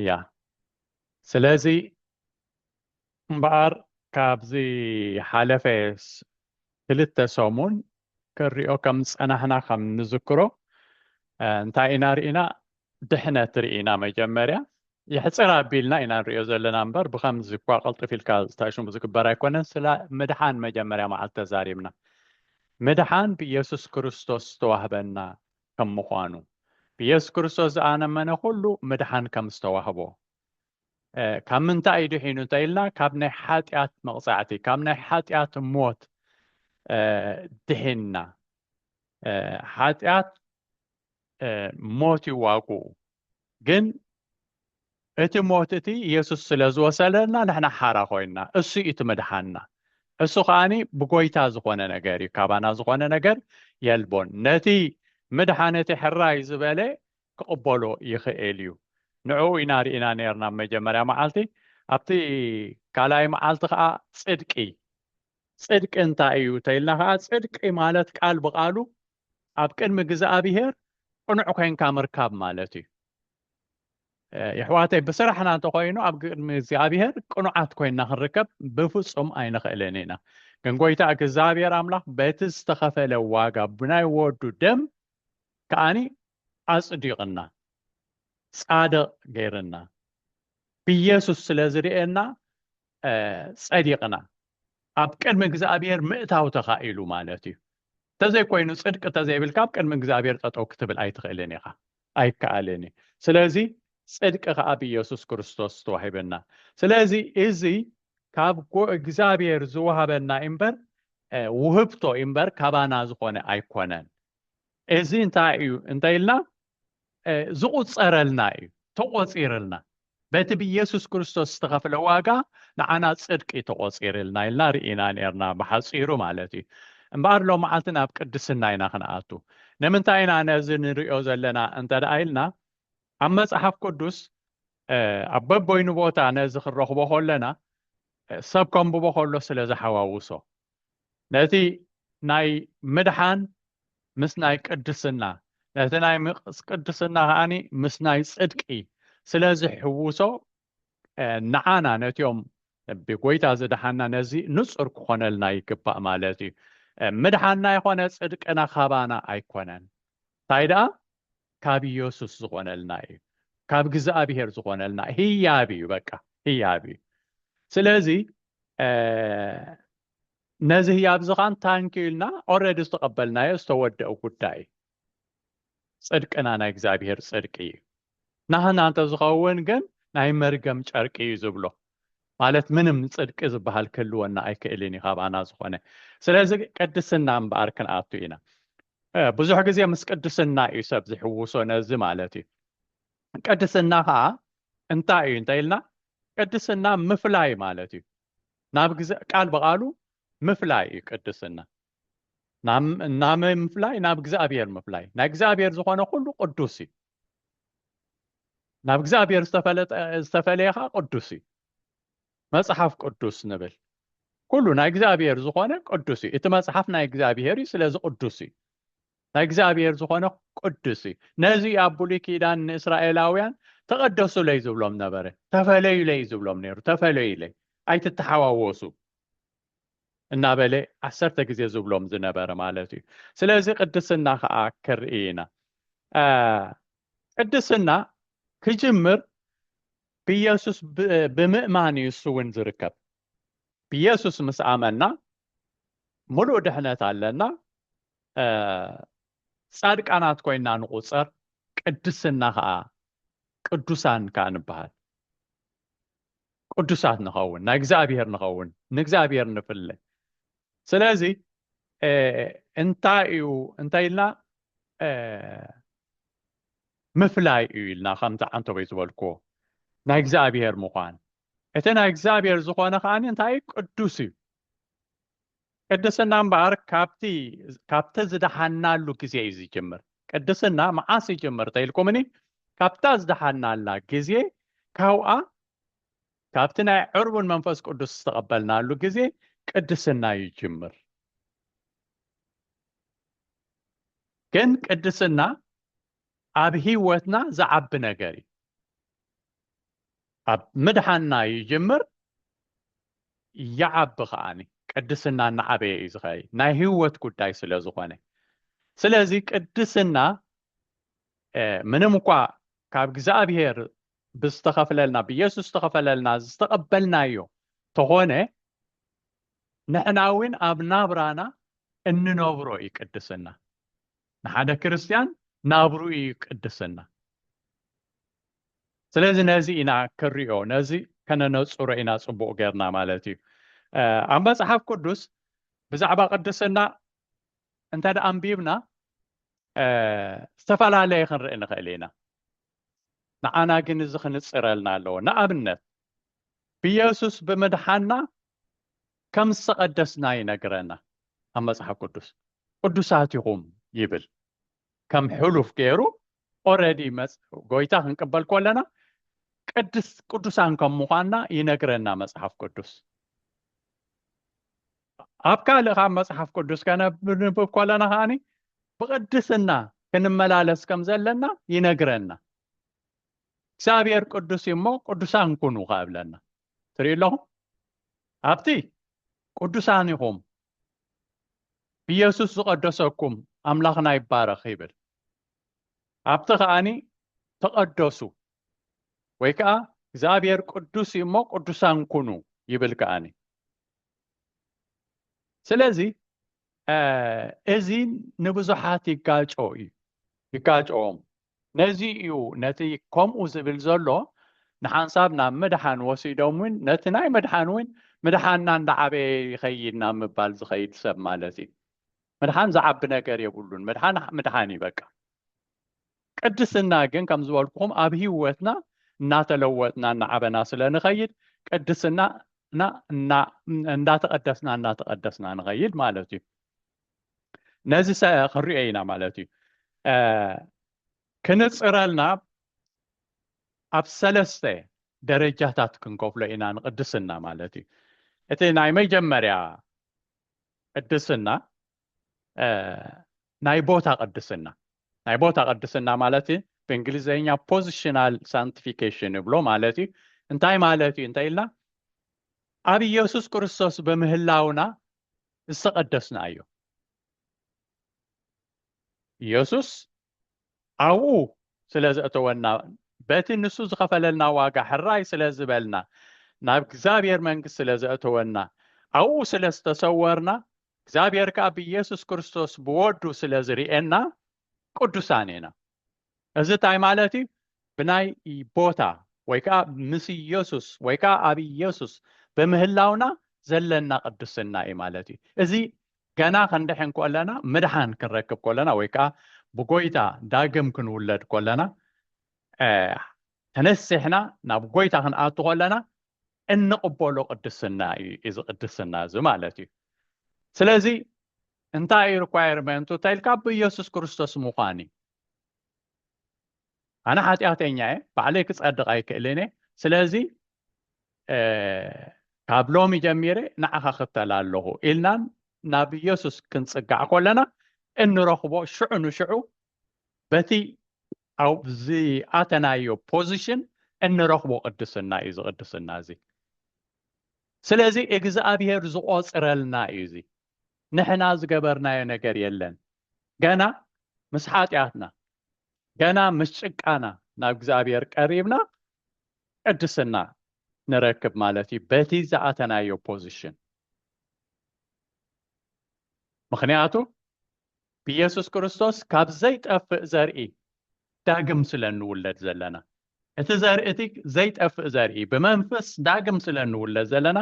እያ ስለዚ እምበኣር ካብ ዝሓለፈ ክልተ ሰሙን ክንሪኦ ከም ዝጸናሕና ከም ንዝክሮ እንታይ ኢና ርኢና ድሕነት ርኢና መጀመርያ የሕፅር ኣቢልና ኢና ንሪኦ ዘለና እምበር ብከምዚ እኳ ቅልጥፍ ኢልካ ዝተሽሙ ዝግበር ኣይኮነን ስለ ምድሓን መጀመርያ መዓልቲ ተዛሪብና ምድሓን ብኢየሱስ ክርስቶስ ዝተዋህበና ከም ምዃኑ፣ ብየሱስ ክርስቶስ ዝኣነመነ ኩሉ ምድሓን ከም ዝተዋህቦ። ካብ ምንታይ እዩ ድሒኑ እንተ ኢልና ካብ ናይ ሓጢኣት መቕጻዕቲ ካብ ናይ ሓጢኣት ሞት ድሒንና። ሓጢኣት ሞት ይዋግኡ ግን እቲ ሞት እቲ ኢየሱስ ስለ ዝወሰደና ንሕና ሓራ ኮይንና እሱ እዩ እቲ ምድሓንና እሱ ከዓኒ ብጎይታ ዝኾነ ነገር እዩ ካባና ዝኾነ ነገር የልቦን ነቲ ምድሓን እቲ ሕራይ ዝበለ ክቕበሎ ይኽእል እዩ ንዕኡ ኢና ርኢና ነርና መጀመርያ መዓልቲ ኣብቲ ካልኣይ መዓልቲ ከዓ ፅድቂ ፅድቂ እንታይ እዩ ተኢልና ከዓ ፅድቂ ማለት ቃል ብቃሉ ኣብ ቅድሚ እግዝኣብሄር ቅኑዕ ኮይንካ ምርካብ ማለት እዩ የሕዋተይ ብስራሕና እንተኮይኑ ኣብ ቅድሚ እግዚኣብሄር ቅኑዓት ኮይንና ክንርከብ ብፍፁም ኣይንኽእልን ኢና ግን ጎይታ እግዚኣብሄር ኣምላኽ በቲ ዝተኸፈለ ዋጋ ብናይ ወዱ ደም ከዓኒ ኣፅዲቕና ፃድቕ ገይርና ብኢየሱስ ስለ ዝርእየና ፀዲቕና ኣብ ቅድሚ እግዚኣብሔር ምእታው ተኻኢሉ ማለት እዩ ተዘይኮይኑ ፅድቂ ተዘይብልካ ኣብ ቅድሚ እግዚኣብሔር ጠጠው ክትብል ኣይትኽእልን ኢኻ ኣይከኣልን እዩ ስለዚ ፅድቂ ከዓ ብኢየሱስ ክርስቶስ ተዋሂበና ስለዚ እዚ ካብ እግዚኣብሔር ዝወሃበና እምበር ውህብቶ እምበር ካባና ዝኾነ ኣይኮነን እዚ እንታይ እዩ እንተ ኢልና ዝቑጸረልና እዩ፣ ተቖጺርልና በቲ ብኢየሱስ ክርስቶስ ዝተኸፍለ ዋጋ ንዓና ጽድቂ ተቖጺርልና ኢልና ርኢና ኔርና ብሓጺሩ ማለት እዩ። እምበኣር ሎምዓልቲ ናብ ቅድስና ኢና ክንኣቱ። ንምንታይ ኢና ነዚ ንርእዮ ዘለና እንተ ደኣ ኢልና ኣብ መጽሓፍ ቅዱስ ኣብ በበይኑ ቦታ ነዚ ክንረኽቦ ከለና ሰብ ከንብቦ ከሎ ስለ ዝሓዋውሶ ነቲ ናይ ምድሓን ምስ ናይ ቅድስና፣ ነቲ ናይ ቅድስና ከኣኒ ምስ ናይ ጽድቂ ስለ ዝሕውሶ፣ ንዓና ነቲኦም ብጐይታ ዝደሓንና ነዚ ንጹር ክኾነልና ይግባእ ማለት እዩ። ምድሓንና ይኾነ ጽድቅና ካባና ኣይኮነን፣ እንታይ ደኣ ካብ ኢየሱስ ዝኾነልና እዩ ካብ ግዝኣብሔር ዝኾነልና ህያብ እዩ በቃ ህያብ እዩ ስለዚ ነዚ ህያብ እዚ ኻን ታንኪዩ ኢልና ኦረዲ ዝተቐበልናዮ ዝተወደኡ ጉዳይ ፅድቅና ናይ እግዚኣብሔር ፅድቂ እዩ ናህና እንተዝኸውን ግን ናይ መርገም ጨርቂ እዩ ዝብሎ ማለት ምንም ፅድቂ ዝበሃል ክህልወና ኣይክእልን እዩ ካባና ዝኾነ ስለዚ ቅድስና እምበኣር ክንኣቱ ኢና ብዙሕ ግዜ ምስ ቅድስና እዩ ሰብ ዝሕውሶ ነዚ ማለት እዩ ቅድስና ከዓ እንታይ እዩ እንታይ ኢልና ቅድስና ምፍላይ ማለት እዩ ናብ ግዜ ቃል ብቃሉ ምፍላይ እዩ ቅድስና ናመ ምፍላይ ናብ እግዚኣብሔር ምፍላይ ናይ እግዚኣብሔር ዝኾነ ኩሉ ቅዱስ እዩ ናብ እግዚኣብሔር ዝተፈለየ ከዓ ቅዱስ እዩ መጽሓፍ ቅዱስ ንብል ኩሉ ናይ እግዚኣብሔር ዝኾነ ቅዱስ እዩ እቲ መጽሓፍ ናይ እግዚኣብሔር እዩ ስለዚ ቅዱስ እዩ ናይ እግዚኣብሔር ዝኾነ ቅዱስ እዩ ነዚ ኣብ ብሉይ ኪዳን ንእስራኤላውያን ተቐደሱለይ ዝብሎም ነበረ ተፈለዩለይ ዝብሎም ነይሩ ተፈለዩለይ ኣይትተሓዋወሱ እናበለ ዓሰርተ ግዜ ዝብሎም ዝነበረ ማለት እዩ ስለዚ ቅድስና ከዓ ክርኢ ኢና ቅድስና ክጅምር ብየሱስ ብምእማን እዩ እሱ እውን ዝርከብ ብየሱስ ምስ ኣመና ሙሉእ ድሕነት ኣለና ጻድቃናት ኮይና ንቁፀር ቅድስና ከዓ ቅዱሳን ከዓ ንበሃል ቅዱሳት ንኸውን ናይ እግዚኣብሔር ንኸውን ንእግዚኣብሔር ንፍለ ስለዚ እንታይ እዩ እንታይ ኢልና ምፍላይ እዩ ኢልና ከምቲ ዓንተቦይ ዝበልክዎ ናይ እግዚኣብሔር ምዃን እቲ ናይ እግዚኣብሔር ዝኾነ ከኣ እንታይ እዩ ቅዱስ እዩ ቅድስና እምበኣር ካብቲ ካብቲ ዝደሓናሉ ግዜ እዩ ዝጅምር ቅድስና መዓስ ይጅምር ተኢልኩምኒ ካብታ ዝደሓናላ ግዜ ካብኣ ካብቲ ናይ ዕርቡን መንፈስ ቅዱስ ዝተቐበልናሉ ግዜ ቅድስና ይጅምር ግን ቅድስና ኣብ ህይወትና ዝዓቢ ነገር እዩ ኣብ ምድሓንና ይጅምር ይዓቢ ከዓኒ ቅድስና እናዓበየ እዩ ዝኸይ ናይ ህይወት ጉዳይ ስለ ዝኾነ ስለዚ ቅድስና ምንም እኳ ካብ እግዚኣብሄር ብዝተኸፍለልና ብየሱስ ዝተኸፈለልና ዝተቐበልናዮ ተኾነ ንሕና እውን ኣብ ናብራና እንነብሮ እዩ ቅድስና። ንሓደ ክርስትያን ናብሩ እዩ ቅድስና። ስለዚ ነዚ ኢና ክንሪኦ ነዚ ከነነፅሮ ኢና ፅቡቕ ጌርና ማለት እዩ። ኣብ መፅሓፍ ቅዱስ ብዛዕባ ቅድስና እንተ ደኣ ኣንቢብና ዝተፈላለየ ክንርኢ ንኽእል ኢና። ንዓና ግን እዚ ክንፅረልና ኣለዎ። ንኣብነት ብየሱስ ብምድሓና ከም ዝተቐደስና ይነግረና ኣብ መጽሓፍ ቅዱስ ቅዱሳት ኢኹም ይብል ከም ሕሉፍ ገይሩ ኦረዲ ጎይታ ክንቅበል ኮለና ቅድስ ቅዱሳን ከም ምዃንና ይነግረና መጽሓፍ ቅዱስ ኣብ ካልእ ካብ መጽሓፍ ቅዱስ ከነብንብብ ኮለና ከዓኒ ብቅድስና ክንመላለስ ከም ዘለና ይነግረና እግዚኣብሔር ቅዱስ እሞ ቅዱሳን ኩኑ ካብለና ትሪኡ ኣለኹም ኣብቲ ቅዱሳን ኢኹም ኢየሱስ ዝቐደሰኩም ኣምላኽና ይባረኽ ይብል ኣብቲ ከዓኒ ተቐደሱ ወይ ከዓ እግዚኣብሔር ቅዱስ እዩ እሞ ቅዱሳን ኩኑ ይብል ከዓኒ ስለዚ እዚ ንብዙሓት ይጋጮ እዩ ይጋጮኦም ነዚ እዩ ነቲ ከምኡ ዝብል ዘሎ ንሓንሳብ ናብ ምድሓን ወሲዶም እውን ነቲ ናይ ምድሓን እውን ምድሓንና እንዳዓበየ ይኸይድ ናብ ምባል ዝኸይድ ሰብ ማለት እዩ ምድሓን ዝዓቢ ነገር የብሉን ምድሓን ምድሓን እዩ በቃ ቅድስና ግን ከም ዝበልኩኹም ኣብ ህይወትና እናተለወጥና እናዓበና ስለ ንኸይድ ቅድስና እና እንዳተቐደስና እናተቐደስና ንኸይድ ማለት እዩ ነዚ ክንሪኦ ኢና ማለት እዩ ክንፅረልና ኣብ ሰለስተ ደረጃታት ክንከፍሎ ኢና ንቅድስና ማለት እዩ እቲ ናይ መጀመርያ ቅድስና ናይ ቦታ ቅድስና ናይ ቦታ ቅድስና ማለት እዩ ብእንግሊዝኛ ፖዚሽናል ሳንቲፊኬሽን ይብሎ ማለት እዩ እንታይ ማለት እዩ እንታይ ኢልና ኣብ ኢየሱስ ክርስቶስ ብምህላውና ዝተቐደስና እዩ። ኢየሱስ ኣብኡ ስለ ዘእተወና በቲ ንሱ ዝኸፈለልና ዋጋ ሕራይ ስለ ዝበልና ናብ እግዚኣብሔር መንግስት ስለ ዘእተወና ኣብኡ ስለ ዝተሰወርና እግዚኣብሔር ከዓ ብኢየሱስ ክርስቶስ ብወዱ ስለ ዝርእየና ቅዱሳን ኢና። እዚ እንታይ ማለት እዩ? ብናይ ቦታ ወይ ከዓ ምስ ኢየሱስ ወይ ከዓ ኣብ ኢየሱስ ብምህላውና ዘለና ቅድስና እዩ ማለት እዩ። እዚ ገና ክንድሕን ኮለና ምድሓን ክንረክብ ኮለና ወይ ከዓ ብጎይታ ዳግም ክንውለድ ኮለና ተነሲሕና ናብ ጎይታ ክንኣቱ ኮለና እንቕበሎ ቅድስና እዩ እዚ ቅድስና እዚ ማለት እዩ ስለዚ እንታይ እዩ ሪኳየርመንቱ እንተኢልካ ብኢየሱስ ክርስቶስ ምዃን እዩ ኣነ ሓጢኣተኛ እየ ባዕለይ ክፀድቕ ኣይክእልን እየ ስለዚ ካብ ሎሚ ጀሚረ ንዓኻ ክተል ኣለኹ ኢልናን ናብ ኢየሱስ ክንፅጋዕ ኮለና እንረኽቦ ሽዑ ንሽዑ በቲ ኣብ ዝኣተናዮ ፖዚሽን እንረኽቦ ቅድስና እዩ እዚ ቅድስና እዚ ስለዚ እግዝኣብሄር ዝቆፅረልና እዩ እዚ ንሕና ዝገበርናዮ ነገር የለን ገና ምስ ሓጢኣትና ገና ምስ ጭቃና ናብ እግዚኣብሄር ቀሪብና ቅድስና ንረክብ ማለት እዩ በቲ ዝኣተናዮ ፖዚሽን ምክንያቱ ብየሱስ ክርስቶስ ካብ ዘይጠፍእ ዘርኢ ዳግም ስለ እንውለድ ዘለና እቲ ዘርኢ እቲ ዘይጠፍእ ዘርኢ ብመንፈስ ዳግም ስለ እንውለድ ዘለና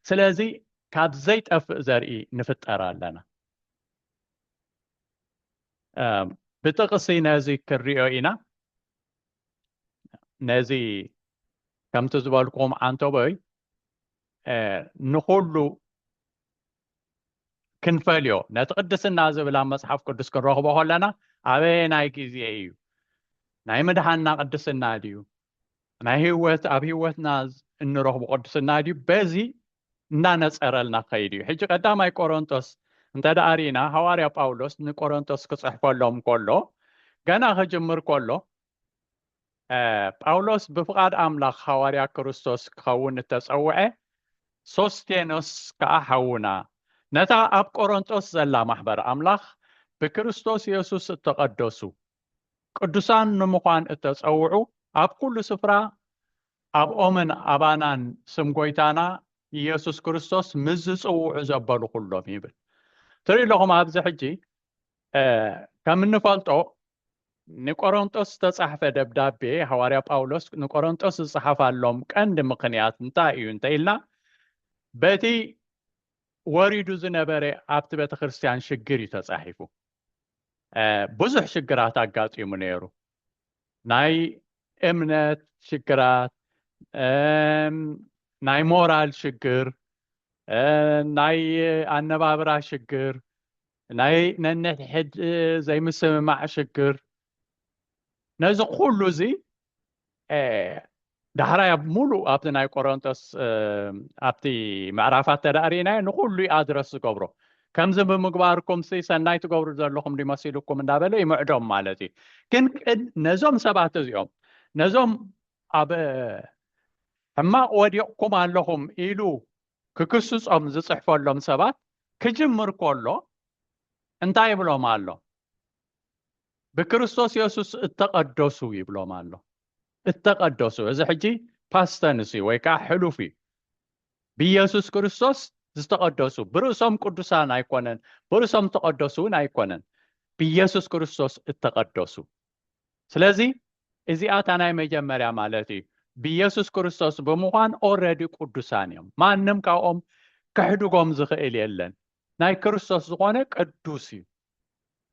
ስለዚ ካብ ዘይጠፍእ ዘርኢ ንፍጠር ኣለና ብጥቕሲ ነዚ ክንሪኦ ኢና ነዚ ከምቲ ዝበልኩም ዓንተቦይ ንኩሉ ክንፈልዮ ነቲ ቅድስና ዝብል ኣብ መጽሓፍ ቅዱስ ክንረኽቦ ከለና ኣበየናይ ግዜ እዩ ናይ ምድሓና ቅድስና ድዩ ናይ ህወት ኣብ ህወትና እንረኽቡ ቅድስና ድዩ በዚ እናነፀረልና ክኸይድ እዩ ሕጂ ቀዳማይ ቆሮንቶስ እንተ ደኣ ርኢና ሃዋርያ ጳውሎስ ንቆሮንቶስ ክፅሕፈሎም ከሎ ገና ክጅምር ከሎ ጳውሎስ ብፍቓድ ኣምላኽ ሃዋርያ ክርስቶስ ክኸውን እተጸውዐ፣ ሶስቴኖስ ከኣ ሓውና፣ ነታ ኣብ ቈረንቶስ ዘላ ማሕበር ኣምላኽ ብክርስቶስ የሱስ እተቐደሱ ቅዱሳን ንምዃን እተጸውዑ ኣብ ኵሉ ስፍራ ኣብኦምን ኣባናን ስም ጐይታና ኢየሱስ ክርስቶስ ምስ ዝጽውዑ ዘበሉ ዅሎም ይብል። ትርእዩ ኣለኹም ኣብዚ ሕጂ ከም እንፈልጦ ንቆሮንጦስ ዝተጻሕፈ ደብዳቤ ሃዋርያ ጳውሎስ ንቆሮንጦስ ዝጸሓፋሎም ቀንዲ ምኽንያት እንታይ እዩ እንተኢልና በቲ ወሪዱ ዝነበረ ኣብቲ ቤተ ክርስቲያን ሽግር እዩ ተጻሒፉ ብዙሕ ሽግራት ኣጋጢሙ ነይሩ ናይ እምነት ሽግራት ናይ ሞራል ሽግር ናይ ኣነባብራ ሽግር ናይ ነንሕድ ዘይምስምማዕ ሽግር ነዚ ኩሉ እዚ ዳሕራይ ኣብ ሙሉእ ኣብቲ ናይ ቆሮንጦስ ኣብቲ ምዕራፋት ተዳእሪእናዮ ንኩሉ ዩ ኣድረስ ዝገብሮ ከምዚ ብምግባርኩም ሲ ሰናይ ትገብሩ ዘለኹም ድመሲልኩም እንዳበለ ይምዕዶም ማለት እዩ ግን ቅድ ነዞም ሰባት እዚኦም ነዞም ኣብ ሕማቕ ወዲቕኩም ኣለኹም ኢሉ ክክስፆም ዝፅሕፈሎም ሰባት ክጅምር ከሎ እንታይ ይብሎም ኣሎ? ብክርስቶስ የሱስ እተቐደሱ ይብሎም ኣሎ። እተቐደሱ እዚ ሕጂ ፓስተንስ እዩ ወይ ከዓ ሕሉፍ እዩ። ብኢየሱስ ክርስቶስ ዝተቐደሱ ብርእሶም ቅዱሳን ኣይኮነን፣ ብርእሶም ተቐደሱ እውን ኣይኮነን፣ ብኢየሱስ ክርስቶስ እተቐደሱ ስለዚ እዚኣ እታ ናይ መጀመርያ ማለት እዩ ብየሱስ ክርስቶስ ብምዃን ኦረዲ ቅዱሳን እዮም ማንም ካብኦም ክሕድጎም ዝኽእል የለን ናይ ክርስቶስ ዝኾነ ቅዱስ እዩ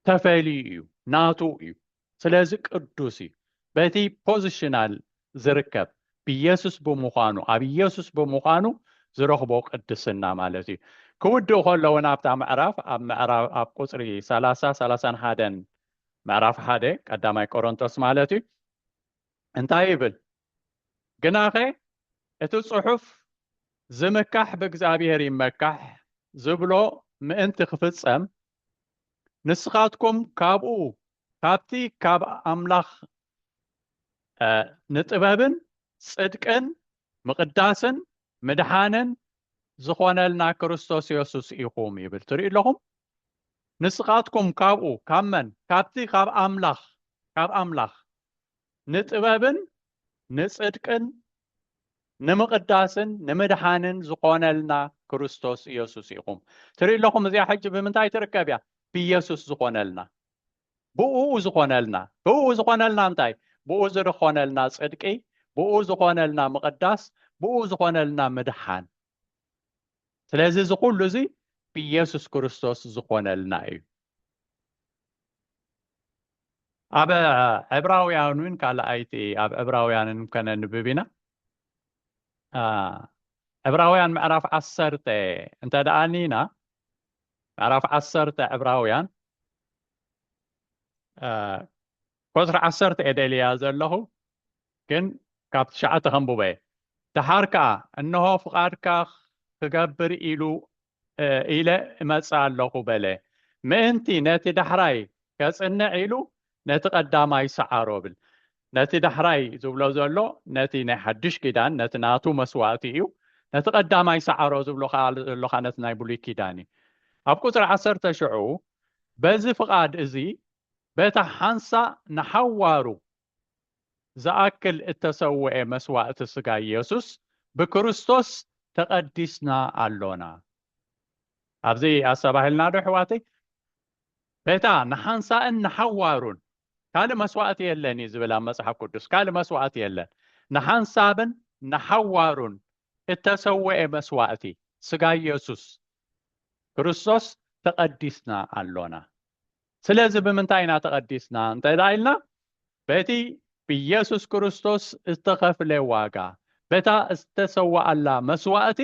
ተፈልዩ እዩ ናቱ እዩ ስለዚ ቅዱስ እዩ በቲ ፖዚሽናል ዝርከብ ብየሱስ ብምዃኑ ኣብ ኢየሱስ ብምዃኑ ዝረኽቦ ቅድስና ማለት እዩ ክውድእ ከሎ እውን ኣብታ ምዕራፍ ኣብ ምዕራፍ ኣብ ቁፅሪ 30 31 ምዕራፍ ሓደ ቀዳማይ ቆሮንቶስ ማለት እዩ እንታይ ይብል ግናኸ እቲ ጽሑፍ ዝምካሕ ብእግዚኣብሔር ይመካሕ ዝብሎ ምእንቲ ክፍጸም ንስኻትኩም ካብኡ ካብቲ ካብ ኣምላኽ ንጥበብን ጽድቅን ምቕዳስን ምድሓንን ዝኾነልና ክርስቶስ የሱስ ኢኹም ይብል ትሪኡ ኣለኹም ንስኻትኩም ካብኡ ካብ መን ካብቲ ካብ ኣምላኽ ካብ ኣምላኽ ንጥበብን ንጽድቅን ንምቕዳስን ንምድሓንን ዝኾነልና ክርስቶስ የሱስ ኢኹም ትሪኡ ኣለኹም እዚኣ ሕጂ ብምንታይ ትርከብ እያ ብየሱስ ዝኾነልና ብእኡ ዝኾነልና ብእኡ ዝኾነልና እንታይ ብእኡ ዝርኾነልና ጽድቂ ብእኡ ዝኾነልና ምቕዳስ ብእኡ ዝኾነልና ምድሓን ስለዚ እዚ ኩሉ እዚ ብኢየሱስ ክርስቶስ ዝኾነልና እዩ ኣብ ዕብራውያን እውን ካልኣይቲ ኣብ ዕብራውያንን ከነንብብ ኢና ዕብራውያን ምዕራፍ ዓሰርተ እንተ ደኣ ኒና ምዕራፍ ዓሰርተ ዕብራውያን ቁፅሪ ዓሰርተ እየ ደልያ ዘለኹ ግን ካብ ትሽዓተ ከንብበ እየ ደሓር ከዓ እንሆ ፍቓድካ ክገብር ኢሉ ኢለ እመፅእ ኣለኹ በለ ምእንቲ ነቲ ዳሕራይ ከፅንዕ ኢሉ ነቲ ቀዳማይ ሰዓሮ ብል ነቲ ዳሕራይ ዝብሎ ዘሎ ነቲ ናይ ሓድሽ ኪዳን ነቲ ናቱ መስዋእቲ እዩ ነቲ ቀዳማይ ሰዓሮ ዝብሎ ከኣ ዘሎ ከኣ ነቲ ናይ ብሉይ ኪዳን እዩ ኣብ ቁጽሪ ዓሰርተ ሽዑ በዚ ፍቓድ እዚ በታ ሓንሳእ ንሓዋሩ ዝኣክል እተሰውኤ መስዋእቲ ስጋ ኢየሱስ ብክርስቶስ ተቐዲስና ኣሎና ኣብዚ ኣሰባሂልና ዶ ኣሕዋተይ በታ ንሓንሳእን ንሓዋሩን ካልእ መስዋእቲ የለን እዩ ዝብል ኣብ መጽሓፍ ቅዱስ ካልእ መስዋእቲ የለን ንሓንሳብን ንሓዋሩን እተሰውኤ መስዋእቲ ስጋ ኢየሱስ ክርስቶስ ተቐዲስና ኣሎና ስለዚ ብምንታይ ኢና ተቐዲስና እንተ ኢልና በቲ ብኢየሱስ ክርስቶስ ዝተኸፍለ ዋጋ በታ ዝተሰዋኣላ መስዋእቲ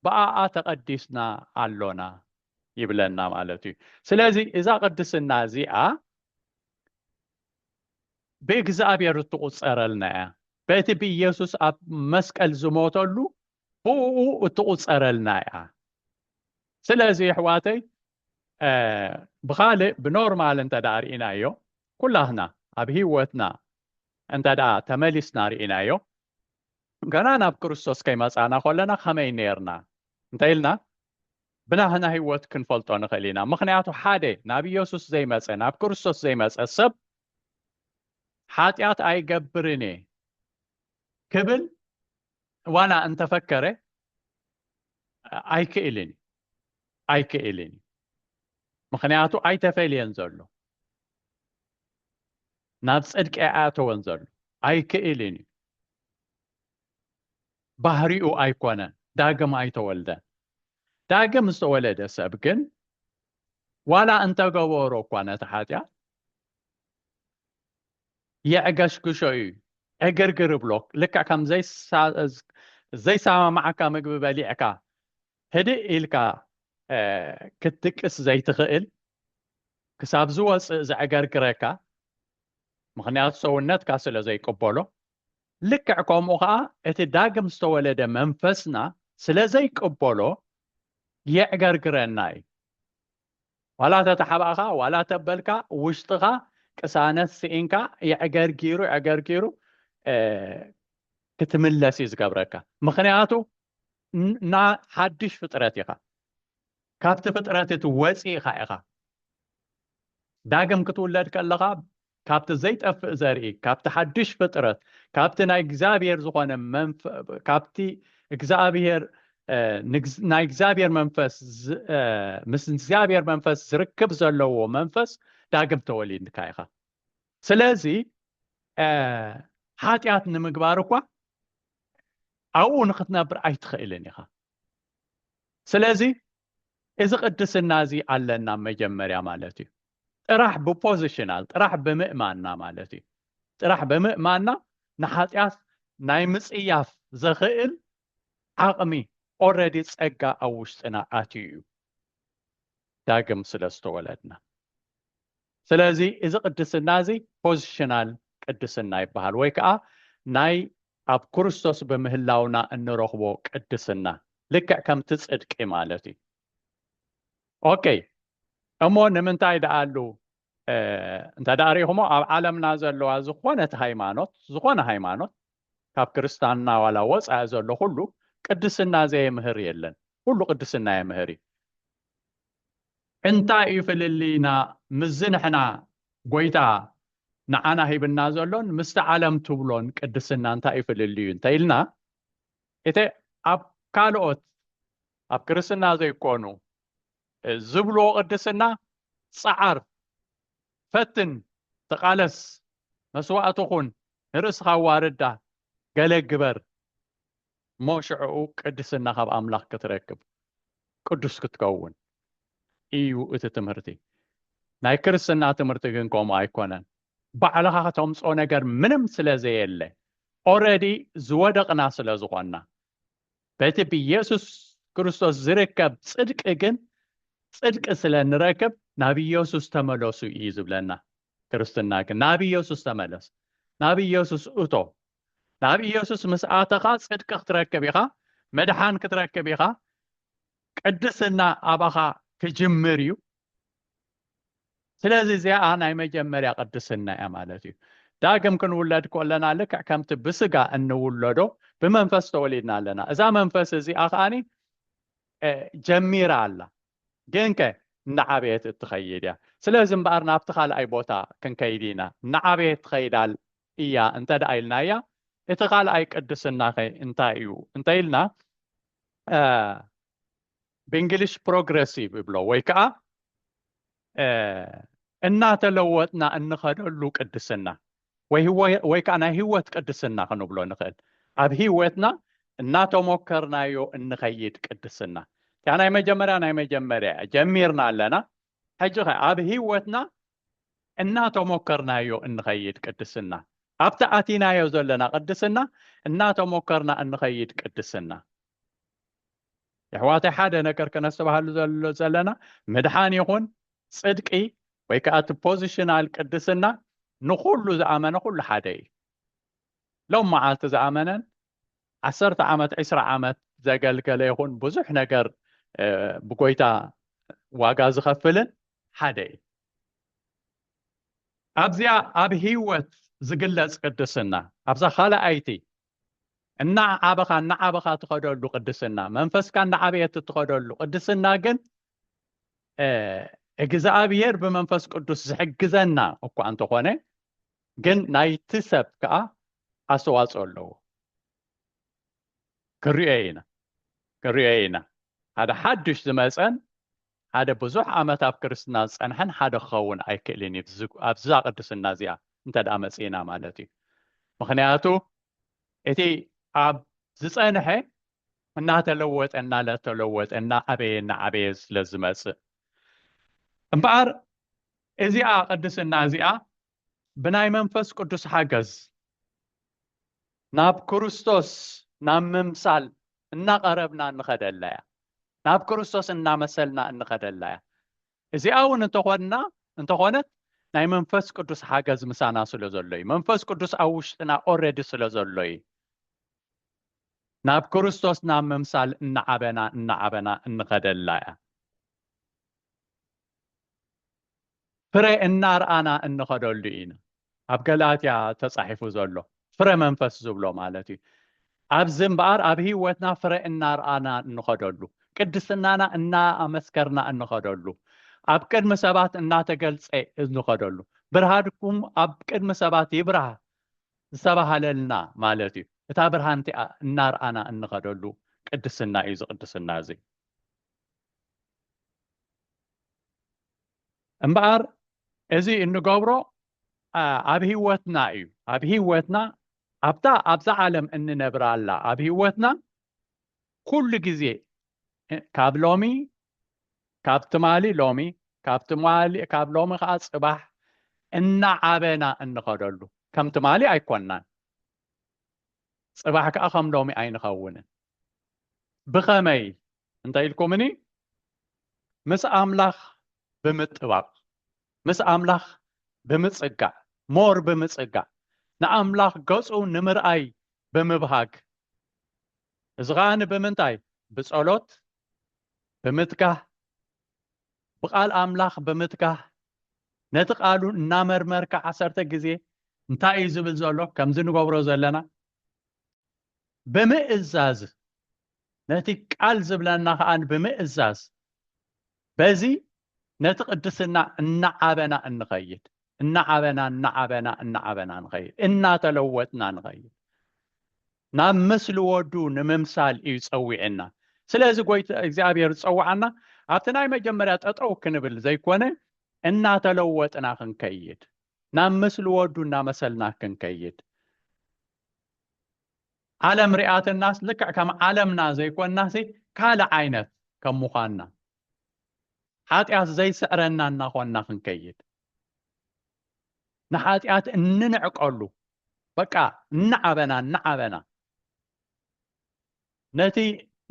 ብኣኣ ተቐዲስና ኣሎና ይብለና ማለት እዩ ስለዚ እዛ ቅድስና እዚኣ ብእግዚኣብሔር እትቑፀረልና እያ በቲ ብኢየሱስ ኣብ መስቀል ዝሞተሉ ብኡ እትቑፀረልና እያ ስለዚ ኣሕዋተይ ብኻልእ ብኖርማል እንተ ደኣ ርኢናዮ ኩላትና ኣብ ህይወትና እንተ ደኣ ተመሊስና ርኢናዮ ገና ናብ ክርስቶስ ከይመጻእና ከለና ከመይ ኔርና እንተ ኢልና ብናህና ህይወት ክንፈልጦ ንኽእል ኢና። ምኽንያቱ ሓደ ናብ ኢየሱስ ዘይመጸ ናብ ክርስቶስ ዘይመጸ ሰብ ሓጢኣት ኣይገብርን እየ ክብል ዋላ እንተፈከረ ኣይክእልን ኣይክእልን ምክንያቱ ኣይተፈልየን ዘሎ ናብ ጽድቂ ኣያተወን ዘሎ ኣይክእልን እዩ ባህሪኡ ኣይኮነን፣ ዳግም ኣይተወልደን። ዳግም ዝተወለደ ሰብ ግን ዋላ እንተገበሮ እኳ ነቲ ሓጢኣት የዕገሽግሾ እዩ፣ ዕግርግር እብሎ፣ ልክዕ ከም ዘይሰማማዓካ ምግቢ በሊዕካ ህድእ ኢልካ ክትድቅስ ዘይትኽእል ክሳብ ዝወፅእ ዘዕገርግረካ ምኽንያቱ ሰውነትካ ስለ ዘይቅበሎ፣ ልክዕ ከምኡ ኸኣ እቲ ዳግም ዝተወለደ መንፈስና ስለ ዘይቅበሎ የዕገርግረና እዩ። ዋላ ተተሓባእኻ ዋላ ተበልካ ውሽጥኻ ቅሳነት ስኢንካ የዕገርጊሩ ዕገርጊሩ ክትምለስ እዩ ዝገብረካ። ምኽንያቱ ሓድሽ ፍጥረት ኢኻ። ካብቲ ፍጥረት እቲ ወጺእኻ ኢኻ። ዳግም ክትውለድ ከለኻ ካብቲ ዘይጠፍእ ዘርኢ፣ ካብቲ ሓድሽ ፍጥረት፣ ካብቲ ናይ እግዚኣብሔር ዝኾነ ካብቲ እግዚኣብሔር ናይ እግዚኣብሔር መንፈስ ምስ እግዚኣብሔር መንፈስ ዝርክብ ዘለዎ መንፈስ ዳግም ተወሊድካ ኢኻ። ስለዚ ሓጢኣት ንምግባር እኳ ኣብኡ ንክትነብር ኣይትኽእልን ኢኻ። ስለዚ እዚ ቅድስና እዚ ኣለና መጀመርያ ማለት እዩ ጥራሕ ብፖዚሽናል ጥራሕ ብምእማንና ማለት እዩ ጥራሕ ብምእማንና ንሓጢኣት ናይ ምፅያፍ ዘኽእል ዓቕሚ ኦረዲ ጸጋ ኣብ ውሽጥና ኣትዩ እዩ ዳግም ስለ ዝተወለድና ስለዚ እዚ ቅድስና እዚ ፖዚሽናል ቅድስና ይበሃል ወይ ከዓ ናይ ኣብ ክርስቶስ ብምህላውና እንረኽቦ ቅድስና ልክዕ ከምቲ ፅድቂ ማለት እዩ ኦኬ እሞ ንምንታይ ደኣሉ እንተ ደኣ ሪኢኹሞ ኣብ ዓለምና ዘለዋ ዝኾነት ሃይማኖት ዝኾነ ሃይማኖት ካብ ክርስታንና ዋላ ወፃኢ ዘሎ ኩሉ ቅድስና ዘየምህር የለን ኩሉ ቅድስና የምህር እዩ እንታይ እዩ ፍልልይና ምስዚ ንሕና ጎይታ ንዓና ሂብና ዘሎን ምስቲ ዓለም ትብሎን ቅድስና እንታይ እዩ ፍልልዩ እንተ ኢልና እቲ ኣብ ካልኦት ኣብ ክርስትና ዘይኮኑ ዝብልዎ ቅድስና ጸዓር ፈትን ተቓለስ መስዋእቲ ኩን ንርእስኻ ኣዋርዳ ገለ ግበር እሞ ሽዕኡ ቅድስና ካብ ኣምላኽ ክትረክብ ቅዱስ ክትከውን ኢዩ እቲ ትምህርቲ ናይ ክርስትና ትምህርቲ ግን ከምኡ ኣይኮነን ባዕልኻ ከተምጾ ነገር ምንም ስለ ዘየለ ኦረዲ ዝወደቕና ስለ ዝኾንና በቲ ብኢየሱስ ክርስቶስ ዝርከብ ጽድቂ ግን ጽድቂ ስለ ንረክብ ናብ ኢየሱስ ተመለሱ እዩ ዝብለና ክርስትና ግን ናብ ኢየሱስ ተመለስ ናብ ኢየሱስ እቶ ናብ ኢየሱስ ምስ ኣተኻ ጽድቂ ክትረክብ ኢኻ መድሓን ክትረክብ ኢኻ ቅድስና ኣባኻ ክጅምር እዩ ስለዚ እዚኣ ናይ መጀመርያ ቅድስና እያ ማለት እዩ ዳግም ክንውለድ ኮለና ልክዕ ከምቲ ብስጋ እንውለዶ ብመንፈስ ተወሊድና ኣለና እዛ መንፈስ እዚኣ ከዓኒ ጀሚራ ኣላ ግን ከ እናዓበየት እትኸይድ እያ ስለዚ እምበኣር ናብቲ ካልኣይ ቦታ ክንከይድ ኢና እናዓበየት ትኸይድ እያ እንተድኣ ኢልናያ እቲ ካልኣይ ቅድስናኸ እንታይ እዩ እንተኢልና ብእንግሊሽ ፕሮግረሲቭ ይብሎ ወይ ከዓ እናተለወጥና እንኸደሉ ቅድስና ወይ ከዓ ናይ ህይወት ቅድስና ክንብሎ ንኽእል ኣብ ህይወትና እናተሞከርናዮ እንኸይድ ቅድስና እቲያ ናይ መጀመርያ ናይ መጀመርያ ጀሚርና ኣለና ሕጂኸ ኣብ ህይወትና እናተሞከርናዮ እንኸይድ ቅድስና፣ ኣብቲ ኣቲናዮ ዘለና ቅድስና እናተሞከርና እንኸይድ ቅድስና። የሕዋተይ ሓደ ነገር ከነስተባሃሉ ዘሎ ዘለና ምድሓን ይኹን ጽድቂ ወይ ከዓ እቲ ፖዚሽናል ቅድስና ንኹሉ ዝኣመነ ኩሉ ሓደ እዩ። ሎም መዓልቲ ዝኣመነን ዓሰርተ ዓመት ዕስራ ዓመት ዘገልገለ ይኹን ብዙሕ ነገር ብጎይታ ዋጋ ዝኸፍልን ሓደ እዩ ኣብዚያ ኣብ ህይወት ዝግለጽ ቅድስና ኣብዛ ካልኣይቲ እናዓበኻ እናዓበኻ ትኸደሉ ቅድስና መንፈስካ እናዓበየት እትኸደሉ ቅድስና ግን እግዚኣብሄር ብመንፈስ ቅዱስ ዝሕግዘና እኳ እንተኾነ ግን ናይቲ ሰብ ከኣ ኣስተዋጽኦ ኣለዎ። ክንሪኦዮ ኢና ክንሪኦዮ ኢና ሓደ ሓዱሽ ዝመጸን ሓደ ብዙሕ ዓመት ኣብ ክርስትና ዝጸንሐን ሓደ ክኸውን ኣይክእልን እዩ ኣብዛ ቅድስና እዚኣ እንተ ደኣ መጺእና ማለት እዩ ምክንያቱ እቲ ኣብ ዝጸንሐ እናተለወጠ እናተለወጠ እናዓበየ እናዓበየ ስለ ዝመጽእ እምበኣር እዚኣ ቅድስና እዚኣ ብናይ መንፈስ ቅዱስ ሓገዝ ናብ ክርስቶስ ናብ ምምሳል እናቐረብና እንኸደላ እያ። ናብ ክርስቶስ እናመሰልና እንኸደላ እያ። እዚኣ እውን እንተኾንና እንተኾነት ናይ መንፈስ ቅዱስ ሓገዝ ምሳና ስለ ዘሎ እዩ። መንፈስ ቅዱስ ኣብ ውሽጥና ኦረዲ ስለ ዘሎ እዩ። ናብ ክርስቶስ ናብ ምምሳል እናዓበና እናዓበና እንኸደላ እያ። ፍረ እናርኣና እንኸደሉ ኢና ኣብ ገላትያ ተጻሒፉ ዘሎ ፍረ መንፈስ ዝብሎ ማለት እዩ ኣብዚ እምበኣር ኣብ ህይወትና ፍረ እናርኣና እንኸደሉ ቅድስናና እናኣመስከርና እንኸደሉ ኣብ ቅድሚ ሰባት እናተገልጸ እንኸደሉ ብርሃድኩም ኣብ ቅድሚ ሰባት ይብራህ ዝተባሃለልና ማለት እዩ እታ ብርሃን እቲኣ እናርኣና እንኸደሉ ቅድስና እዩ ዝቅድስና እዚ እምበኣር እዚ እንገብሮ ኣብ ህይወትና እዩ ኣብ ህይወትና ኣብታ ኣብዛ ዓለም እንነብራ ኣላ ኣብ ህይወትና ኩሉ ግዜ ካብ ሎሚ ካብ ትማሊ ሎሚ ካብ ትማሊ ካብ ሎሚ ከዓ ፅባሕ እናዓበና እንኸደሉ ከም ትማሊ ኣይኮናን ፅባሕ ከዓ ከም ሎሚ ኣይንኸውንን ብኸመይ እንታይ ኢልኩምኒ ምስ ኣምላኽ ብምጥባቕ ምስ ኣምላኽ ብምጽጋዕ ሞር ብምጽጋዕ ንኣምላኽ ገጹ ንምርኣይ ብምብሃግ እዚ ኸኣ ንምንታይ ብጸሎት ብምትጋህ ብቓል ኣምላኽ ብምትጋህ ነቲ ቃሉ እናመርመርካ ዓሰርተ ግዜ እንታይ እዩ ዝብል ዘሎ ከምዚ ንገብሮ ዘለና ብምእዛዝ ነቲ ቃል ዝብለና ከኣ ብምእዛዝ በዚ ነቲ ቅድስና እናዓበና እንኸይድ እናዓበና እናዓበና እናዓበና ንኸይድ እናተለወጥና ንኸይድ ናብ ምስሊ ወዱ ንምምሳል እዩ ጸዊዕና ስለዚ ጎይታ እግዚኣብሔር ዝጸዋዓና ኣብቲ ናይ መጀመርያ ጠጠው ክንብል ዘይኮነ እናተለወጥና ክንከይድ ናብ ምስሊ ወዱ እናመሰልና ክንከይድ ዓለም ሪኣትናስ ልክዕ ከም ዓለምና ዘይኮንናሲ ካልእ ዓይነት ከም ምዃንና ሓጢኣት ዘይስዕረና እናኾንና ክንከይድ ንሓጢኣት እንንዕቀሉ በቃ እናዓበና እናዓበና ነቲ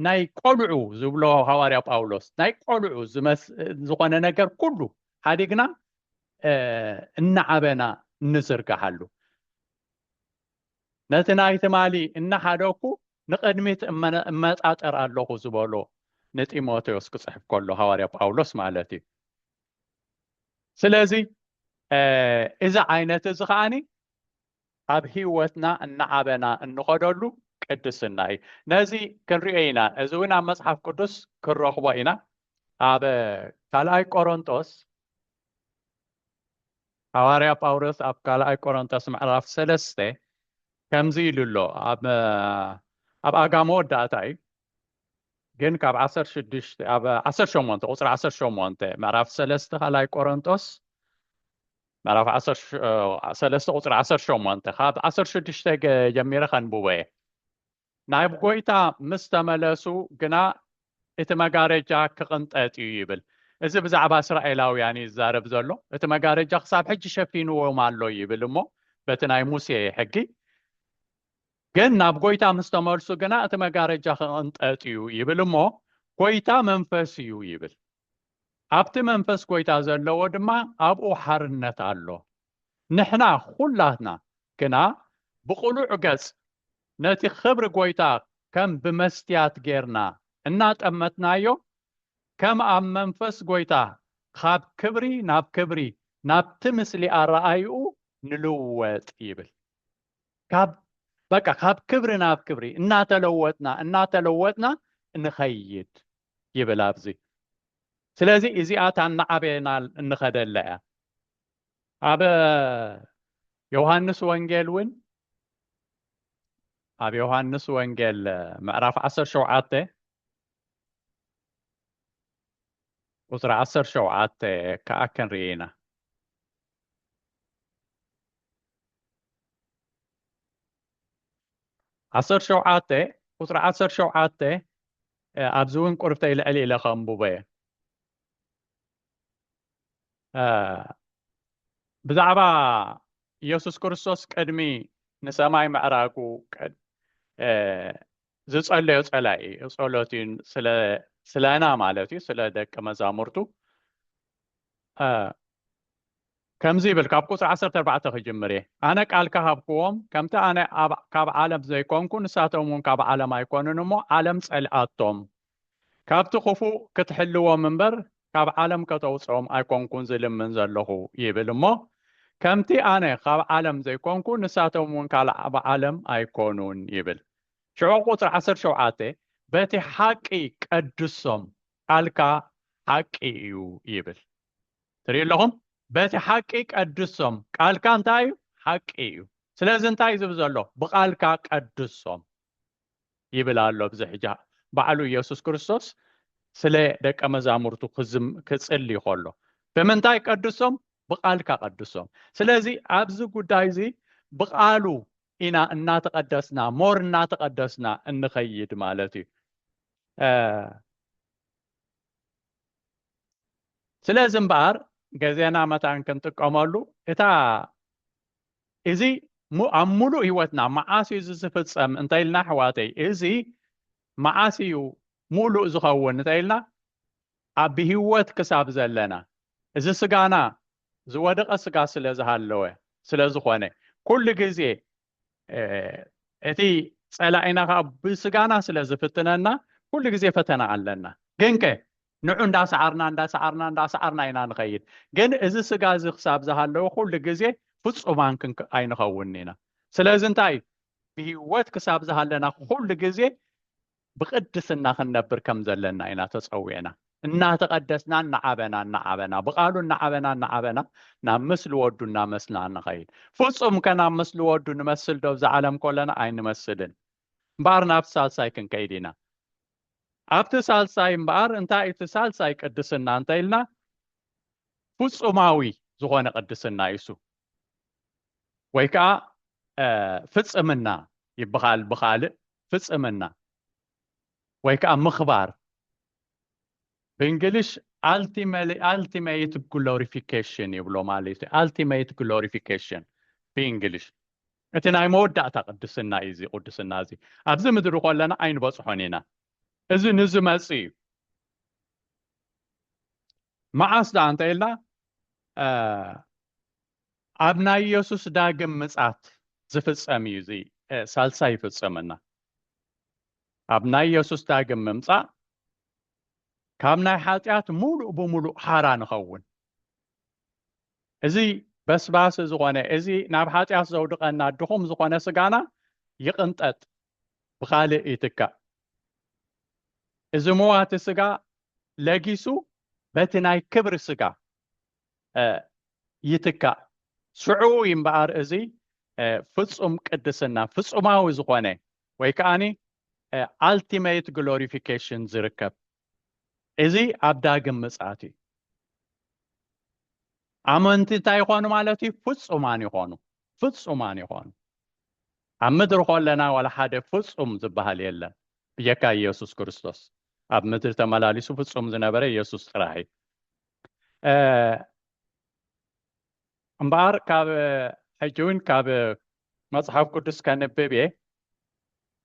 ናይ ቆልዑ ዝብሎ ሃዋርያ ጳውሎስ ናይ ቆልዑ ዝኾነ ነገር ኩሉ ሓዲግና እናዓበና እንዝርግሓሉ ነቲ ናይ ትማሊ እናሓደግኩ ንቕድሚት እመጣጠር ኣለኹ ዝበሎ ንጢሞቴዎስ ክጽሕፍ ከሎ ሃዋርያ ጳውሎስ ማለት እዩ ስለዚ እዚ ዓይነት እዚ ከዓኒ ኣብ ህይወትና እናዓበና እንኸደሉ ቅድስና እዩ ነዚ ክንሪኦ ኢና እዚ እውን ኣብ መፅሓፍ ቅዱስ ክንረኽቦ ኢና ኣብ ካልኣይ ቆሮንጦስ ሃዋርያ ጳውሎስ ኣብ ካልኣይ ቆሮንቶስ ምዕራፍ ሰለስተ ከምዚ ኢሉ ኣሎ፣ ኣብ ኣብ ኣጋ መወዳእታ እዩ ግን ካብ ዓሰርተ ሽዱሽተ ኣብ ዓሰርተ ሸሞንተ ቁፅሪ ዓሰርተ ሸሞንተ ምዕራፍ ሰለስተ ካልኣይ ቆሮንቶስ ምዕራፍ ዓሰርተ ሰለስተ ቁፅሪ ዓሰርተ ሸሞንተ ካብ ዓሰርተ ሽዱሽተ ጀሚረ ከንብቦ እየ ናብ ጐይታ ምስ ተመለሱ ግና እቲ መጋረጃ ክቕንጠጥ እዩ ይብል። እዚ ብዛዕባ እስራኤላውያን እዩ ዝዛረብ ዘሎ። እቲ መጋረጃ ክሳብ ሕጂ ሸፊንዎም ኣሎ ይብል እሞ በቲ ናይ ሙሴ ሕጊ ግን ናብ ጐይታ ምስ ተመልሱ ግና እቲ መጋረጃ ክቕንጠጥ እዩ ይብል እሞ ጐይታ መንፈስ እዩ ይብል። ኣብቲ መንፈስ ጐይታ ዘለዎ ድማ ኣብኡ ሓርነት ኣሎ። ንሕና ዅላትና ግና ብቕሉዕ ገጽ ነቲ ኽብሪ ጐይታ ኸም ብመስትያት ጌርና እናጠመትናዮ፣ ከም ኣብ መንፈስ ጐይታ ኻብ ክብሪ ናብ ክብሪ ናብቲ ምስሊ ኣረኣእያኡ ንልወጥ ይብል። ካብ በቃ ካብ ክብሪ ናብ ክብሪ እናተለወጥና እናተለወጥና ንኸይድ ይብል ኣብዚ። ስለዚ እዚኣ እታ እናዓበየና እንኸደላ እያ። ኣብ ዮሃንስ ወንጌል እውን ኣብ ዮሃንስ ወንጌል ምዕራፍ 17 ቁፅሪ 17 ከዓ ክንርኢ ኢና ዓሰርተ ሸውዓተ ቁፅሪ ዓሰርተ ሸውዓተ ኣብዚ እውን ቁርብተይ ልዕሊ ኢለ ከንብቦ እየ ብዛዕባ ኢየሱስ ክርስቶስ ቅድሚ ንሰማይ ምዕራጉ ዝጸለዮ ጸላይ እዩ ጸሎት እዩ ስለና ማለት እዩ ስለ ደቂ መዛሙርቱ ከምዚ ይብል፣ ካብ ቍጽሪ ዓሰርተ ኣርባዕተ ክጅምር እየ፣ ኣነ ቃልካ ሃብክዎም፣ ከምቲ ኣነ ካብ ዓለም ዘይኰንኩ፣ ንሳቶምውን ካብ ዓለም ኣይኰኑን እሞ፣ ዓለም ጸልኣቶም። ካብቲ ኽፉእ ክትሕልዎም እምበር፣ ካብ ዓለም ከተውጽኦም ኣይኰንኩን ዝልምን ዘለኹ ይብል እሞ፣ ከምቲ ኣነ ኻብ ዓለም ዘይኰንኩ፣ ንሳቶምውን ካብ ዓለም ኣይኰኑን ይብል። ሽዑ ቍጽሪ ዓሰርተ ሸውዓተ፣ በቲ ሓቂ ቀድሶም፣ ቃልካ ሓቂ እዩ ይብል። ትሪኡ ኣለኹም በቲ ሓቂ ቀድሶም ቃልካ እንታይ እዩ ሓቂ እዩ ስለዚ እንታይ ዝብ ዘሎ ብቓልካ ቀድሶም ይብል ኣሎ ብዚ ሕጃ ባዕሉ ኢየሱስ ክርስቶስ ስለ ደቀ መዛሙርቱ ክጽሊ ከሎ ብምንታይ ቀድሶም ብቓልካ ቀድሶም ስለዚ ኣብዚ ጉዳይ እዚ ብቓሉ ኢና እናተቐደስና ሞር እናተቐደስና እንኸይድ ማለት እዩ ስለዚ እምበኣር ገዜና መታን ክንጥቀመሉ እታ እዚ ኣብ ሙሉእ ህይወትና መዓስ እዩ እዚ ዝፍፀም እንተኢልና ኣሕዋተይ እዚ መዓስ እዩ ሙሉእ ዝኸውን እንተኢልና ኣብ ብህይወት ክሳብ ዘለና እዚ ስጋና ዝወደቐ ስጋ ስለ ዝሃለወ ስለ ዝኾነ ኩሉ ግዜ እቲ ፀላኢና ከዓ ብስጋና ስለ ዝፍትነና ኩሉ ግዜ ፈተና ኣለና ግን ከ ንዑ እንዳሰዓርና እንዳሰዓርና እንዳሰዓርና ኢና ንኸይድ ግን እዚ ስጋ እዚ ክሳብ ዝሃለወ ኩሉ ግዜ ፍፁማን ኣይንኸውንን ኢና ስለዚ እንታይ እዩ ብሂወት ክሳብ ዝሃለና ኩሉ ግዜ ብቅድስና ክንነብር ከም ዘለና ኢና ተጸዊዕና። እናተቐደስና እናዓበና እናዓበና ብቓሉ እናዓበና እናዓበና ናብ ምስሊ ወዱ እናመስልና ንኸይድ። ፍጹም ከ ናብ ምስሊ ወዱ ንመስል ዶ እዛ ዓለም ኮለና? ኣይንመስልን። እምበኣር ናብቲ ሳልሳይ ክንከይድ ኢና። ኣብቲ ሳልሳይ እምበኣር እንታይ እዩ እቲ ሳልሳይ ቅድስና እንተ ኢልና ፍጹማዊ ዝኾነ ቅድስና እዩ እሱ። ወይ ከዓ ፍፅምና ይበሃል ብካልእ ፍፅምና ወይ ከዓ ምኽባር ብእንግሊሽ ኣልቲሜት ግሎሪፊኬሽን ይብሎ ማለት እዩ ኣልቲሜት ግሎሪፊኬሽን ብእንግሊሽ እቲ ናይ መወዳእታ ቅድስና እዩ እዚ ቅድስና እዚ ኣብዚ ምድሪ ከለና ኣይንበፅሖን ኢና እዚ ንዝመፅ እዩ መዓስ ደኣ እንተ ኢልና ኣብ ናይ ኢየሱስ ዳግም ምጻት ዝፍጸም እዩ እዚ ሳልሳይ ይፍጸመና ኣብ ናይ ኢየሱስ ዳግም ምምጻእ ካብ ናይ ሓጢኣት ሙሉእ ብሙሉእ ሓራ ንኸውን እዚ በስባስ ዝኾነ እዚ ናብ ሓጢኣት ዘውድቐና ድኹም ዝኾነ ስጋና ይቕንጠጥ ብኻልእ ይትካእ እዚ መዋቲ ስጋ ለጊሱ በቲ ናይ ክብሪ ስጋ ይትካእ። ሽዑ እዩ እምበኣር እዚ ፍጹም ቅድስና፣ ፍጹማዊ ዝኾነ ወይ ከዓኒ ኣልቲሜት ግሎሪፊኬሽን ዝርከብ። እዚ ኣብ ዳግም ምጽኣት እዩ። ኣመንቲ እንታይ ይኾኑ ማለት እዩ? ፍጹማን ይኾኑ፣ ፍጹማን ይኾኑ። ኣብ ምድሪ ከለና ዋላ ሓደ ፍጹም ዝበሃል የለን ብጀካ ኢየሱስ ክርስቶስ። ኣብ ምድሪ ተመላሊሱ ፍጹም ዝነበረ ኢየሱስ ጥራሕ እዩ። እምበኣር ካብ ሕጂ እውን ካብ መጽሓፍ ቅዱስ ከንብብ እየ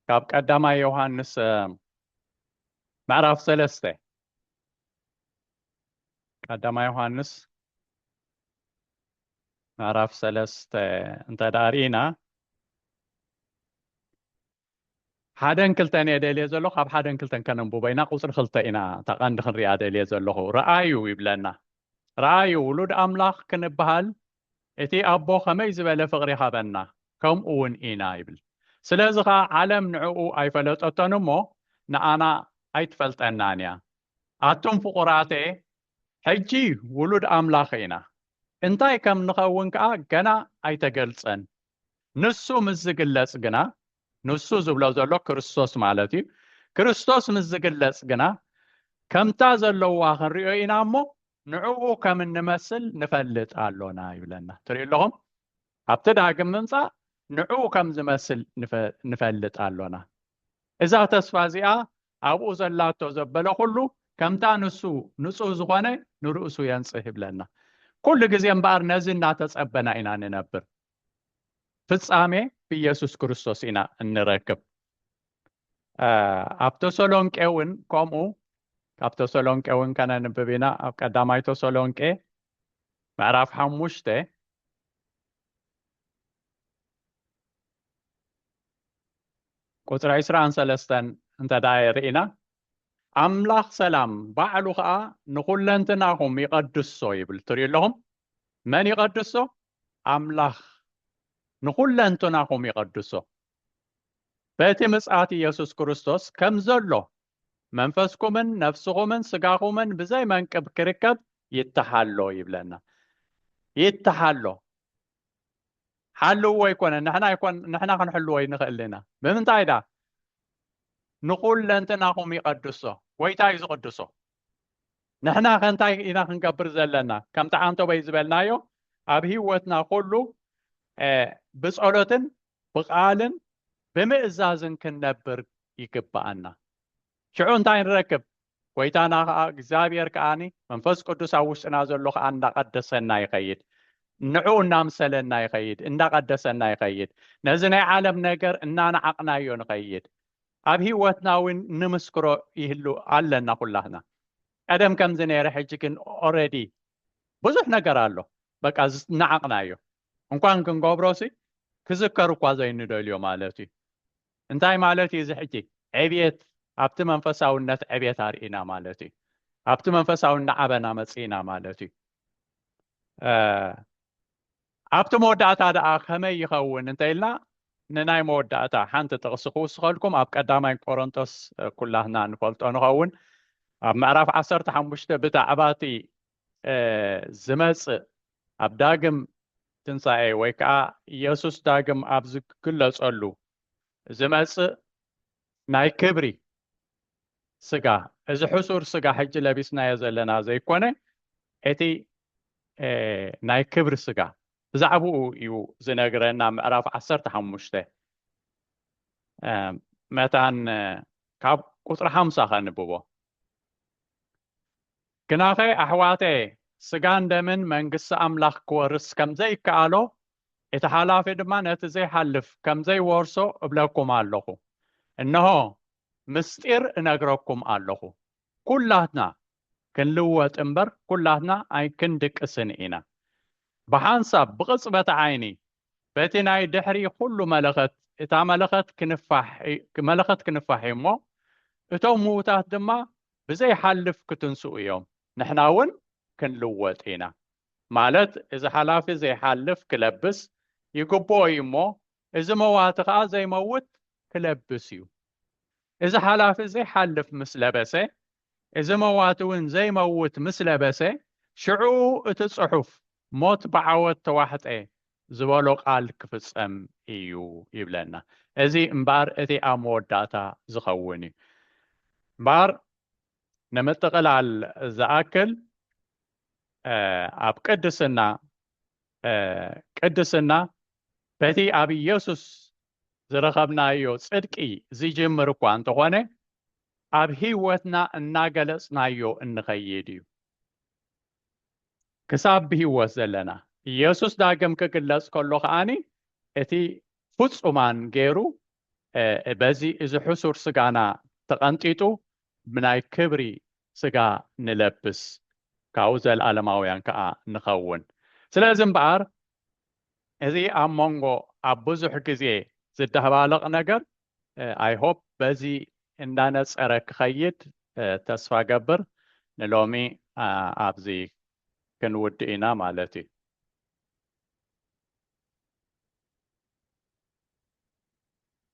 ካብ ቀዳማይ ዮሃንስ ምዕራፍ ሰለስተ ቀዳማይ ዮሃንስ ምዕራፍ ሰለስተ እንተ ደኣ ርኢና ሓደን ክልተን እየ ደልየ ዘለኹ ካብ ሓደን ክልተን ከነንብቦ ኢና ቁፅሪ ክልተ ኢና እታ ቀንዲ ክንሪኣ ደልየ ዘለኹ ረኣዩ ይብለና ረኣዩ ውሉድ ኣምላኽ ክንበሃል እቲ ኣቦ ከመይ ዝበለ ፍቕሪ ይሃበና ከምኡ እውን ኢና ይብል ስለዚ ከዓ ዓለም ንዕኡ ኣይፈለጠቶን እሞ ንኣና ኣይትፈልጠናን እያ ኣቱም ፍቑራተየ ሕጂ ውሉድ ኣምላኽ ኢና እንታይ ከም ንኸውን ከዓ ገና ኣይተገልፀን ንሱ ምስ ዝግለጽ ግና ንሱ ዝብሎ ዘሎ ክርስቶስ ማለት እዩ ክርስቶስ ምስ ዝግለጽ ግና ከምታ ዘለዋ ክንሪኦ ኢና እሞ ንዕኡ ከም እንመስል ንፈልጥ ኣሎና ይብለና ትሪኡ ኣለኹም ኣብቲ ዳግም ምምፃእ ንዕኡ ከም ዝመስል ንፈልጥ ኣሎና እዛ ተስፋ እዚኣ ኣብኡ ዘላቶ ዘበለ ኩሉ ከምታ ንሱ ንጹህ ዝኾነ ንርእሱ የንጽህ ይብለና። ኩሉ ግዜ እምበኣር ነዚ እናተጸበና ኢና ንነብር። ፍጻሜ ብኢየሱስ ክርስቶስ ኢና እንረክብ። ኣብ ተሰሎንቄ እውን ከምኡ ካብ ተሰሎንቄ እውን ከነንብብ ኢና ኣብ ቀዳማይ ተሰሎንቄ ምዕራፍ ሓሙሽተ ቁጽሪ ዕስራን ሰለስተን እንተ ደኣ ርኢና፣ ኣምላኽ ሰላም ባዕሉ ኸኣ ንኹለንትናኹም ይቐድሶ ይብል። ትርእዩ ኣለኹም? መን ይቐድሶ? ኣምላኽ ንኹለንትናኹም ይቐድሶ። በቲ ምጽኣት ኢየሱስ ክርስቶስ ከም ዘሎ መንፈስኩምን ነፍስኹምን ስጋኹምን ብዘይ መንቅብ ክርከብ ይተሓሎ ይብለና። ይተሓሎ። ሓልውዎ ኣይኮነን ንሕና ይኮን ንሕና ክንሕልዎ ይንኽእል ኢና ብምንታይ ዳ ንኹለንትናኹም ይቐድሶ ጎይታ እዩ ዝቕድሶ ንሕና ከንታይ ኢና ክንገብር ዘለና ከምቲ ዓንቶበይ ዝበልናዮ ኣብ ህይወትና ኩሉ ብጸሎትን ብቃልን ብምእዛዝን ክንነብር ይግባኣና ሽዑ እንታይ ንረክብ? ጐይታና ኸኣ እግዚኣብሔር ከኣ መንፈስ ቅዱስ ኣብ ውሽጥና ዘሎ ኸኣ እንዳቐደሰና ይኸይድ። ንዕኡ እናምሰለና ይኸይድ፣ እንዳቐደሰና ይኸይድ። ነዚ ናይ ዓለም ነገር እናነዓቕናዮ ንኸይድ። ኣብ ህይወትና እውን ንምስክሮ ይህሉ ኣለና ኩላትና። ቀደም ከምዚ ነይረ ሕጂ ግን ኦረዲ ብዙሕ ነገር ኣሎ በቃ ዝነዓቕናዮ እንኳን ክንገብሮሲ ክዝከር እኳ ዘይንደልዮ ማለት እዩ። እንታይ ማለት እዩ እዚ ሕጂ? ዕብየት ኣብቲ መንፈሳውነት ዕብየት ኣርኢና ማለት እዩ። ኣብቲ መንፈሳዊ እናዓበና መጺእና ማለት እዩ። ኣብቲ መወዳእታ ደኣ ከመይ ይኸውን እንተኢልና ንናይ መወዳእታ ሓንቲ ጥቕሲ ክውስኸልኩም ኣብ ቀዳማይ ቆሮንቶስ ኩላትና ንፈልጦ ንኸውን ኣብ ምዕራፍ ዓሰርተ ሓሙሽተ ብዛዕባ እቲ ዝመጽእ ኣብ ዳግም ትንሣኤ ወይ ከዓ ኢየሱስ ዳግም ኣብ ዝግለጸሉ ዝመጽእ ናይ ክብሪ ስጋ እዚ ሕሱር ስጋ ሕጂ ለቢስናዮ ዘለና ዘይኮነ እቲ ናይ ክብሪ ስጋ ብዛዕባኡ እዩ ዝነግረና ምዕራፍ ዓሰርተ ሓሙሽተ መታን ካብ ቁፅሪ ሓምሳ ከንብቦ ግናኸ ኣሕዋተየ፣ ስጋን ደምን መንግስቲ ኣምላኽ ኪወርስ ከም ዘይከኣሎ፣ እቲ ሓላፊ ድማ ነቲ ዘይሓልፍ ከም ዘይወርሶ እብለኩም ኣሎኹ። እንሆ፣ ምሥጢር እነግረኩም ኣሎኹ፣ ኵላትና ክንልወጥ እምበር፣ ኵላትና ኣይክንድቅስን ኢና። ብሓንሳብ፣ ብቕጽበት ዓይኒ፣ በቲ ናይ ድሕሪ ዅሉ መለኸት፣ እታ መለኸት ክንፋሕ፣ መለኸት ክንፋሕ እዩ እሞ፣ እቶም ምዉታት ድማ ብዘይሓልፍ ክትንስኡ እዮም ንሕና እውን ክንልወጥ ኢና ማለት እዚ ሓላፊ ዘይሓልፍ ክለብስ ይግብኦ እዩ እሞ እዚ መዋቲ ከኣ ዘይመውት ክለብስ እዩ እዚ ሓላፊ ዘይሓልፍ ምስ ለበሰ እዚ መዋቲ እውን ዘይመውት ምስ ለበሰ ሽዑ እቲ ጽሑፍ ሞት ብዓወት ተዋሕጠ ዝበሎ ቃል ክፍጸም እዩ ይብለና። እዚ እምበኣር እቲ ኣብ መወዳእታ ዝኸውን እዩ። እምበኣር ንምጥቕላል ዝኣክል ኣብ ቅድስና ቅድስና በቲ ኣብ ኢየሱስ ዝረኸብናዮ ጽድቂ ዝጅምር እኳ እንተኾነ ኣብ ህይወትና እናገለጽናዮ እንኸይድ እዩ። ክሳብ ብህይወት ዘለና። ኢየሱስ ዳግም ክግለጽ ከሎ ከኣኒ እቲ ፍጹማን ገይሩ በዚ እዚ ሕሱር ስጋና ተቐንጢጡ ብናይ ክብሪ ስጋ ንለብስ ካብኡ ዘለዓለማውያን ከኣ ንኸውን። ስለዚ እምበኣር እዚ ኣብ መንጎ ኣብ ብዙሕ ግዜ ዝደባለቕ ነገር ኣይሆፕ በዚ እንዳነፀረ ክኸይድ ተስፋ ገብር ንሎሚ ኣብዚ ክንውድእ ኢና ማለት እዩ